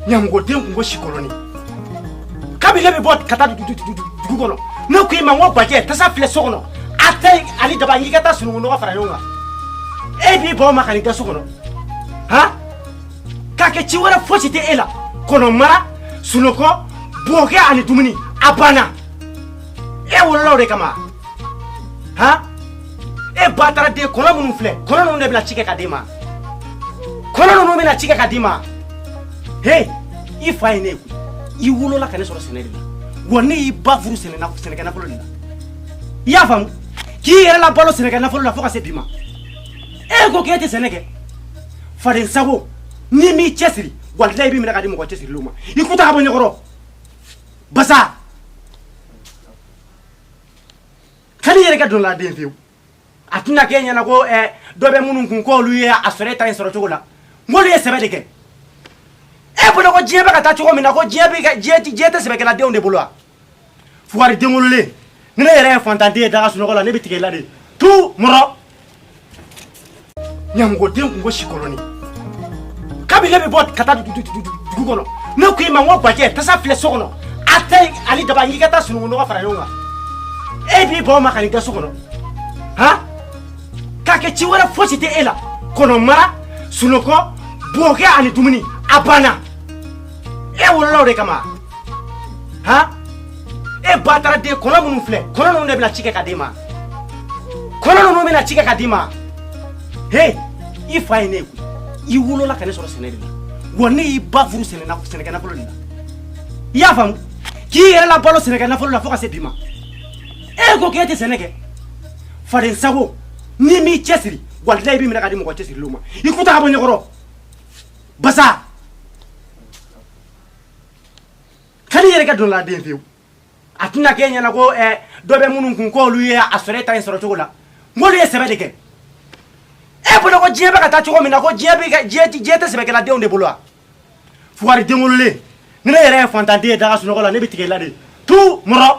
ɲamɔgɔden kun ko sikolonnin kabini ne bɛ bɔ ka taa dugu kɔnɔ ne ko i ma n ko bajɛ tasa filɛ so kɔnɔ a ta ani daba n k'i ka taa sununkun nɔgɔ fara ɲɔgɔn kan e b'i bɔ ma ka n'i da so kɔnɔ han k'a kɛ ci wɛrɛ fosi tɛ e la kɔnɔmara sunɔgɔ bokɛ ani dumuni a banna e wolola o de kama han e bataraden kɔnɔ minnu filɛ kɔnɔ ninnu de bɛna ci kɛ ka d'i ma kɔnɔ ninnu bɛna ci kɛ ka d'i ma he i fa ye ne ye koyi i wolola ka ne sɔrɔ sɛnɛ de la wa ne y'i ba furu sɛnɛ na- sɛnɛkɛ nafolo de la i y'a faamu k'i yɛrɛ labalo sɛnɛkɛ nafolo la fo ka se bi ma e ko k'e tɛ sɛnɛ kɛ faden sago n'i m'i cɛsiri walayi n b'i minɛ ka di mɔgɔ cɛsirilenw ma i ku ta ka bɔ n ɲɛkɔrɔ basa ka n'i yɛrɛ kɛ dɔla den fiyewu a tɛna kɛ yan ko dɔ bɛ minnu kun ko olu ye a sɔrɔ e ta in sɔrɔ cogo la olu ye sɛbɛ de kɛ e bolo ko diɲɛ bɛ ka taa cogo min na ko diɲɛ tɛ sɛbɛkɛladenw de bolo wa fugari den wololen ni ne yɛrɛ ye fantanden ye da ka sunɔgɔ la ne bɛ tigɛ e la de tu ɲamɔgɔden kun ko sikolonnin kabi ne bɛ bɔ ka taa dugu kɔnɔ ne ko i ma n ko bajɛ tasa filɛ so kɔnɔ a ta ani daba n k'i ka taa sununkun nɔgɔ fara ɲɔgɔn kan e b'i bɔ ma ka n'i da so kɔnɔ han k'a kɛ ci wɛrɛ fosi tɛ e la kɔnɔmara sunɔgɔ bokɛ ani dumuni a banna e wolola o de kama han e bataraden kɔnɔ minnu filɛ kɔnɔ ninnu de bɛna ci kɛ ka d'i ma kɔnɔ ninnu bɛna ci kɛ ka d'i ma he i fa ye ne ye koyi i wolola ka ne sɔrɔ sɛnɛ de la wa ne y'i ba furu sɛnɛ na- sɛnɛkɛ nafolo de la i y'a faamu k'i yɛrɛ labalo sɛnɛkɛ nafolo la fo ka se bi ma e ko k'e tɛ sɛnɛ kɛ faden sago n'i m'i cɛsiri walayi n b'i minɛ ka di mɔgɔ cɛsirilenw ma i ku ta ka bɔ n ɲɛkɔrɔ basa ka n'i yɛrɛ kɛ dɔla den fiyewu a tɛna kɛ yan ko dɔ bɛ minnu kun ko olu ye a sɔrɔ e ta in sɔrɔ cogo la olu ye sɛbɛ de kɛ e bolo ko diɲɛ bɛ ka taa cogo min na ko diɲɛ tɛ sɛbɛkɛladenw de bolo wa fugari den wololen ni ne yɛrɛ ye fantanden ye da ka sunɔgɔ la ne bɛ tigɛ e la de tu mɔrɔ